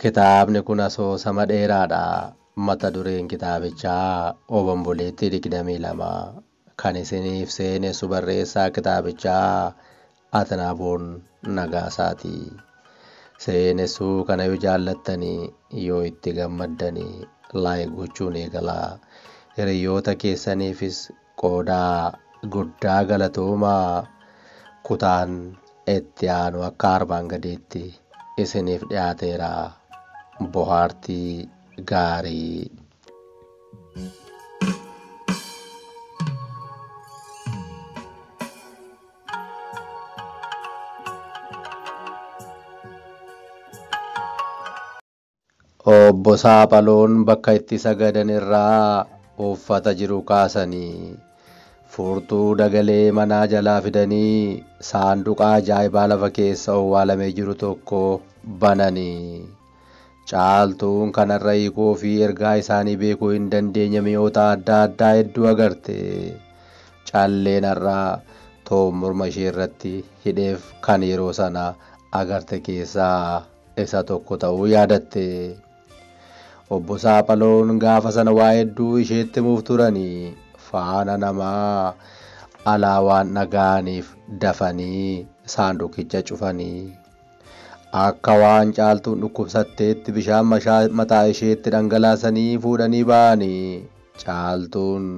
Kitaabni kun asoosama dheeraadha. Mata dureen kitaabichaa Obomboleettii 22 Kan isiniif seenessu barreessaa kitaabichaa Atnaaboon Nagaasaati. Seenessuu kana yoo jaallattani, yoo itti gammaddani like gochuun eegalaa. Hiriyyoota keessaniifis qoodaa. Guddaa galatoomaa! Kutaan itti aanu akka arbaan gadiitti isiniif dhiyaateera. Bohaartii gaarii! Obbo Saaphaloon bakka itti sagadan irraa uffata jiru kaasanii furtuu dagalee manaa jalaa fidanii saanduqa ajaa'ibaa lafa keessa owwaalamee jiru tokko bananii. Caaltuun kanarra hiikoo fi ergaa isaanii beekuu hin dandeenye mi'oota adda addaa hedduu agarte. Calleen har'a Toom morma ishee irratti hidheef kan yeroo sana agarte keessaa isa tokko ta'uu yaadatte. Obbo Saaphaloon gaafa sana waa hedduu isheetti himuuf turani. Faana namaa alaa waan dhaga'aniif dafanii saanduqicha cufani. Akka waan Caaltuun dhukkubsatteetti bishaan mashaa mataa isheetti dhangalaasanii fuudhanii ba'ani. Caaltuun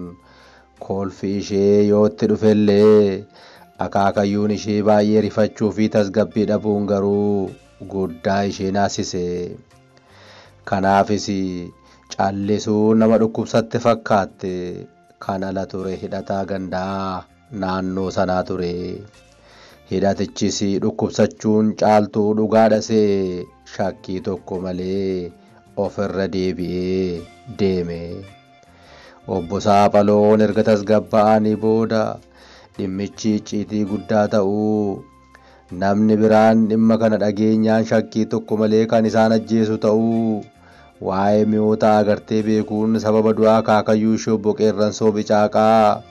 kolfi ishee yoo itti dhufellee akaakayyuun ishee baay'ee rifachuu fi tasgabbii dhabuun garuu guddaa ishee naassise. Kanaafis callisuun nama dhukkubsatte fakkaatte. Kan ala ture hidhataa gandaa. naannoo sanaa ture. Hidhatichis dhukkubsachuun Caaltuu dhugaa dhasee shakkii tokko malee ofirra deebi'ee deeme. Obbo Saafaloon erga tasgabba'anii booda dhimmichi icciitii guddaa ta'uu Namni biraan dhimma kana dhageenyaan shakkii tokko malee kan isaan ajjeesu ta'uu waa'ee mi'oota agartee beekuun sababa du'a akaakayyuu ishee obbo Qeerransoo Bicaaqaa,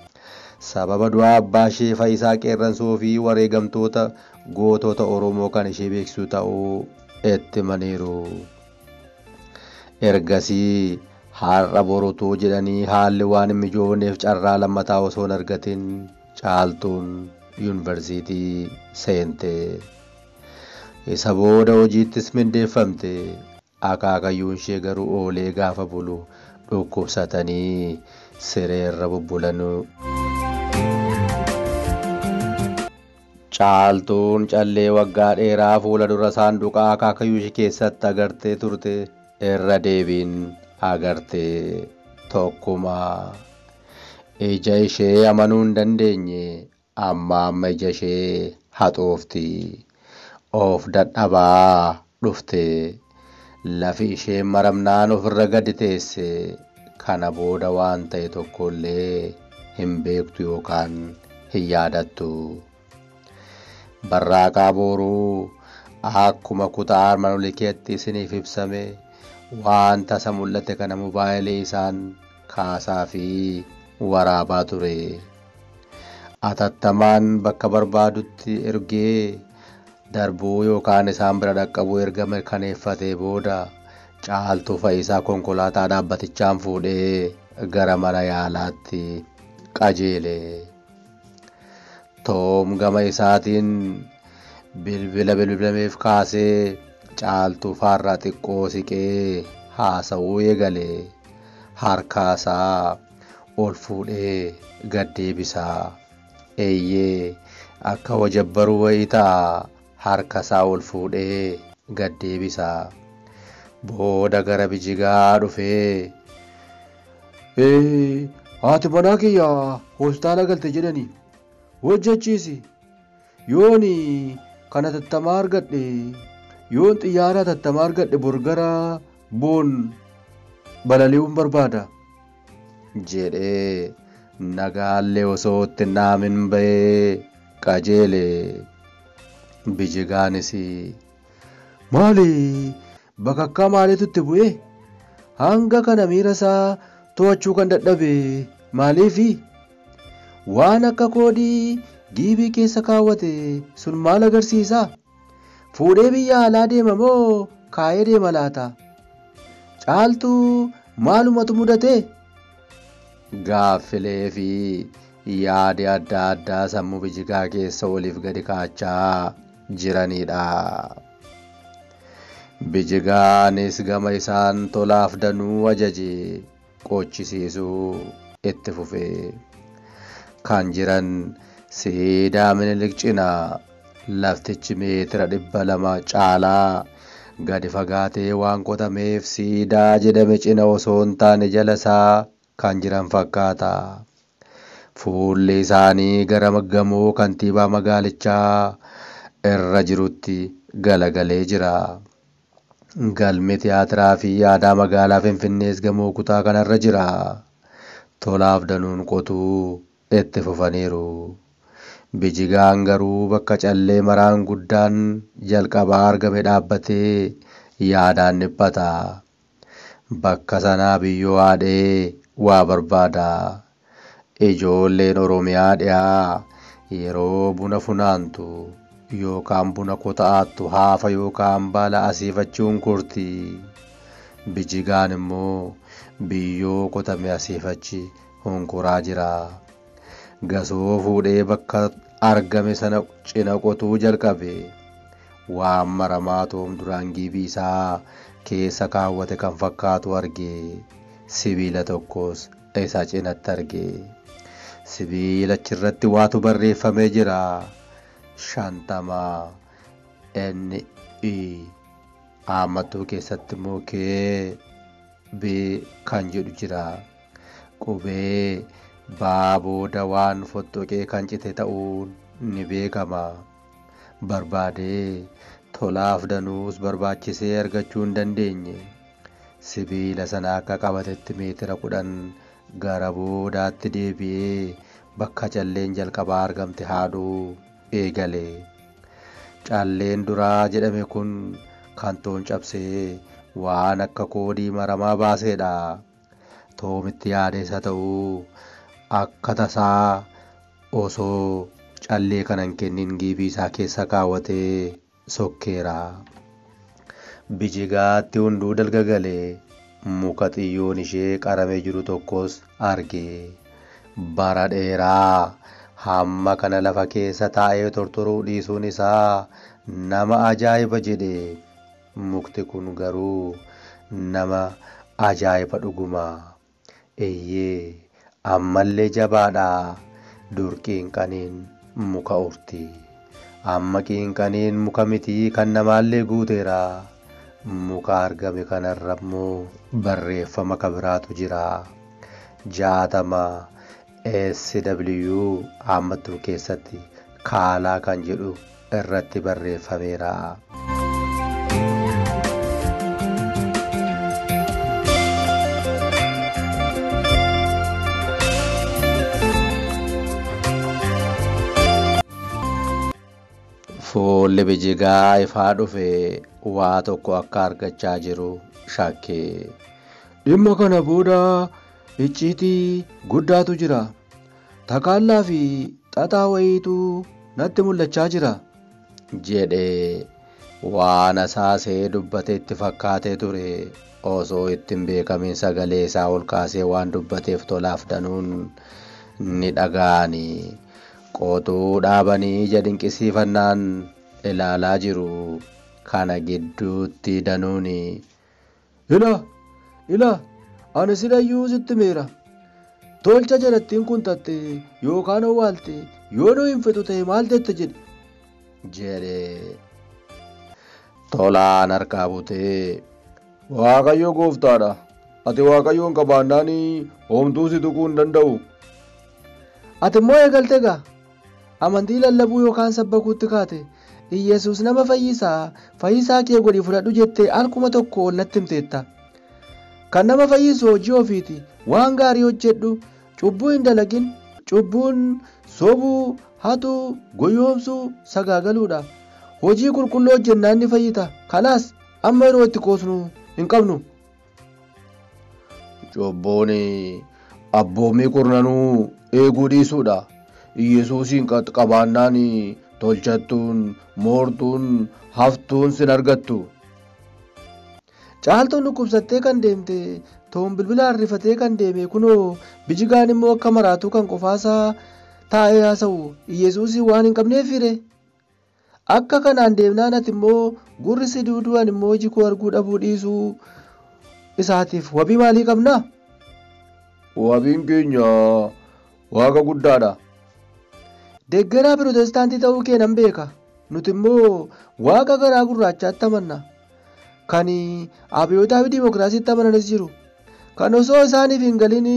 sababa du'a abbaa ishee Fayisaa Qeerransoo fi wareegamtoota gootota Oromoo kan ishee beeksisu ta'uu itti himaniiru. Ergasii har'a boru utuu jedhanii haalli waan hin mijoofneef carraa lammataa osoo hin argatin, Caaltuun yunivarsiitii seente. Isa booda hojiittis mindeeffamte. Akaakayyuunshee garuu oolee gaafa bulu dhukkubsatanii sireerra bubbulan. Caaltuun callee waggaa dheeraa fuula dura saanduqa akaakayyuushee keessatti agartee turte. Irra deebiin agarte tokkuma. Ija ishee amanuu hin dandeenye amma amma ija ishee haxoofti. Of dadhabaa dhufte. Lafi ishee maramnaan ofirra gadi teesse. Kana booda waan ta'e tokko illee hin beektu yookaan hin yaadattu. Barraaqaa Booruu Akkuma kutaa armaan olii keetti isiniif ibsame waan tasa mul'ate kana mobaayilii isaan kaasaa fi waraabaa ture. Atattamaan bakka barbaadutti ergee darbuu yookaan isaan bira dhaqqabuu erga mirkaneeffatee booda Caaltuu Fayisaa konkolaataa dhaabbatichaan fuudhee gara mana yaalaatti qajeele. Toom gama isaatiin bilbila bilbilameef kaasee caaltuu faarraa xiqqoo siqee haasa'uu eegale. Harkaasaa ol fuudhee gad deebisaa. Eeyyee akka wajabbaruu wayii ta'a. harkasaa ol fuudhee gad deebisa. Booda gara bijigaa dhufee Ee, haati manaa kiyya hospitaala galte jedhani hojjechiisi. Yooni kan hatattamaa argadhe yoon xiyyaara hatattamaa argadhe bor gara boon balali'uun barbaada jedhee nagaallee osoo itti hin dhaamin ba'ee qajeele. Bijigaanis maali bakakkaa maaliitu itti bu'e hanga kana miira isaa to'achuu kan dadhabe maaliifi waan akka koodii giibii keessa kaawwate sun maal agarsiisa Fuudhee biyya alaa deema moo kaayee deema laata? Caaltuu maalumatu mudate? Gaaffilee fi yaadi adda addaa sammuu bijigaa keessa oliif gadi kaachaa jiranidha. Bijigaanis gama isaan tolaaf danuu ajaje. qoochisiisuu itti fufe. Kan jiran siidaa Minilik cina laftichi meetira dhibba lama caalaa gadi fagaatee waan qotameef siidaa jedhame cina osoo hin taane jala isaa kan jiran fakkaata. Fuulli isaanii gara gamoo kantiibaa magaalichaa irra jirutti galagalee jira. Galmi Tiyaatiraa fi Aadaa Magaalaa Finfinnees gamoo kutaa kanarra jira. Tolaaf Danuun qotuu itti fufaniiru. Bijigaan garuu bakka callee maraan guddaan jalqabaa argame dhaabbatee yaadaan dhiphata. Bakka sanaa biyyoo haadhee waa barbaada. Ijoolleen Oromiyaa Dhiyaa yeroo buna funaantu yookaan buna kota'aattu haafa yookaan baala asiifachuun korti. Bijigaan immoo biyyoo kotame asiifachi honkoraa jira. Gasoo fuudhee bakka argame sana cina qotuu jalqabe. Waan maramaa toom duraan giibii isaa keessa kaawwate kan fakkaatu arge. Sibiila tokkos isaa cinatti arge. Sibiila achirratti waatu barreeffamee jira. Shantama. N. E. Aammattuu keessatti immoo K. B. kan jedhu jira. Qubee baa booda waan fottoqee kan cite ta'uun ni beekama. Barbaadee tolaaf danuus barbaachisee argachuu hin dandeenye. Sibiila sana akka qabatetti meetira kudhan gara boodaatti deebi'ee bakka calleen jalqabaa argamte haadhuu eegale. Calleen duraa jedhame kun kan Toon cabsee waan akka koodii maramaa baaseedha. Toomitti yaadees haa ta'u akka tasaa osoo callee kana hin kennin giibii isaa keessa kaawwatee sokkeera. Bijigaatti hunduu dalga gale. Muka xiyyoon ishee qaramee jiru tokkos arge. Bara dheeraa hamma kana lafa keessa taa'ee tortoruu dhiisuun isaa nama ajaa'iba jedhe. Mukti kun garuu nama ajaa'iba dhuguma. Eyyee ammallee jabaadha dur qiinqaniin muka urti amma qiinqaniin muka miti kan namaallee guuteera muka argame kanarra immoo barreeffama ka biraatu jira 60 SW haammattuu keessatti kaalaa kan jedhu irratti barreeffameera. Fuulli bijigaa ifaa dhufe waa tokko akka argachaa jiru shakke. Dhimma kana booda icciitii guddaatu jira. Takaallaa fi xaxaa wayiitu natti mul'achaa jira. jedhe. Waan asaasee dubbate itti fakkaatee ture. Osoo itti hin beekamiin sagalee isaa ol kaasee waan dubbateef Tolaaf Danuun ni dhaga'ani. Qotuu dhaabanii ija dinqisiifannaan ilaalaa jiru. Kana gidduutti Danuun. Ila! Ila! Ani silayyuu sitti meera. Tolcha jalattiin kun tatte yookaan owwaalte yoo nu hin fixu ta'e maal jette jedhe. Jedhe. Tolaan harkaa butee. Waaqayyo gooftaadha. Ati waaqayyoon qabaannaan homtuu si tuquu hin danda'u. Ati immoo eegalte gaa. Amantii lallabuu yookaan sabbakuutti kaate. Iyyesuus nama fayyisa, fayyisaa kee godhi fudhadhu jettee al kuma tokko ol natti himteetta. Kan nama fayyisu hojii ofiiti. Waan gaarii hojjedhu. Cubbuu hin dalagin. Cubbuun sobuu, hatuu, goyoomsuu, sagaagaluudha. Hojii qulqulluu hojjennaan ni fayyita. Kalaas, amma yeroo itti qoosnu hin qabnu. Cubbuun abboommii kurnanuu eeguu dhiisuudha. Yesuusiin qabaannaan tolchattuun, moortuun, haftuun sin argattu. Caaltuun dhukkubsattee kan deemte toon bilbilaan rifatee kan deeme kunoo bijigaan immoo akka maraatuu kan qofaasaa taa'ee haasa'u Yesuusiin waan hin qabneef fire. Akka kanaan deemnaan ati immoo gurri si duuduu ani immoo iji koo arguu dhabuu dhiisuu isaatiif wabii maalii qabna? Wabiin keenya Waaqa guddaadha. Deggeraa Pirootestaantii ta'uu kee nan beeka. Nuti immoo Waaqa garaa gurraachaatti amanna. Kan abiyootaawi dimookiraasiitti amananis jiru. Kan osoo isaaniif hin galin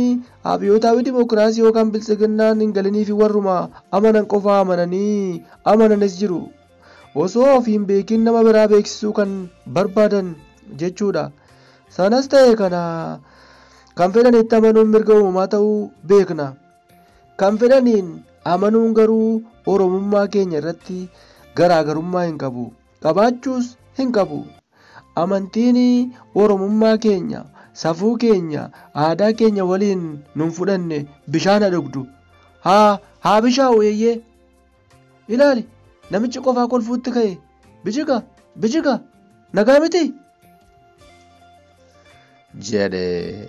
abiyootaawi dimookiraasii yookaan biltsiginnaan hin galiniifi warruma amanan qofaa amananii amananis jiru. Osoo ofii hin beekin nama biraa beeksisuu kan barbaadan jechuudha. Sanas ta'e kana kan fedhanitti amanuun mirga uumamaa ta'uu beekna. Kan fedhaniin amanuun garuu Oromummaa keenya irratti garaagarummaa hin qabu. qabaachuus hin qabu. Amantiin Oromummaa keenya, safuu keenya, aadaa keenya waliin nun fudhanne bishaan ha dhugdu. Haa haa bishaa'u eeyyee. Ilaali namichi qofaa kolfuutti ka'e bijiga bijiga nagaa miti. jedhe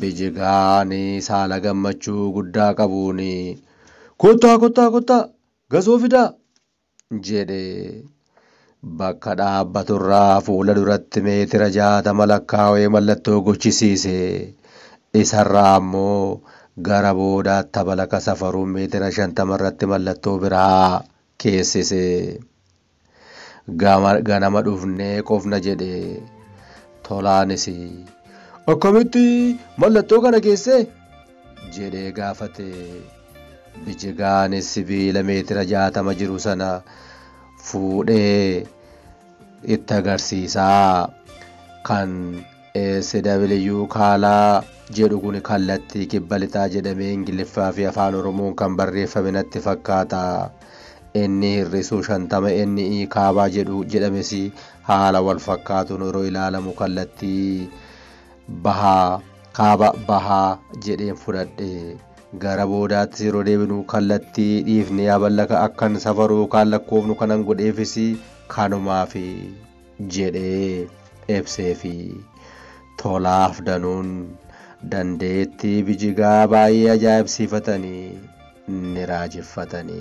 bijigaan saala gammachuu guddaa qabuun kottaa kottaa kottaa gasoo fidaa jedhe. Bakka dhaabbaturraa fuula duratti meetira jaatama lakkaawee mallattoo gochisiise. Isarraa ammoo gara boodaatti tabalaka safaruun meetira shantamarratti mallattoo biraa keessise. Gama ganama dhufnee qofna jedhe. Tolaanis. Akkamitti mallattoo kana keessee? jedhee gaafate. Bijigaanis sibiila meetira jaatama jiru sana fuudhee itti agarsiisaa kan SW kaalaa jedhu kun kallattii kibba lixaa jedhamee Ingiliffaa fi Afaan Oromoon kan barreeffame natti fakkaata. Inni hir'isuu shantama NE kaabaa jedhu jedhames haala wal fakkaatuun yeroo ilaalamu kallattii bahaa, kaaba bahaa jedheen fudhadhe. Gara boodaattis yeroo deebinu kallattii dhiifnee aballaka akkan safaru yookaan lakkoofnu kanan godheefis kanumaafi jedhee ibseefi. Tolaaf Danuun dandeettii Bijigaa baay'ee ajaa'ibsiifatanii ni raajeffatani.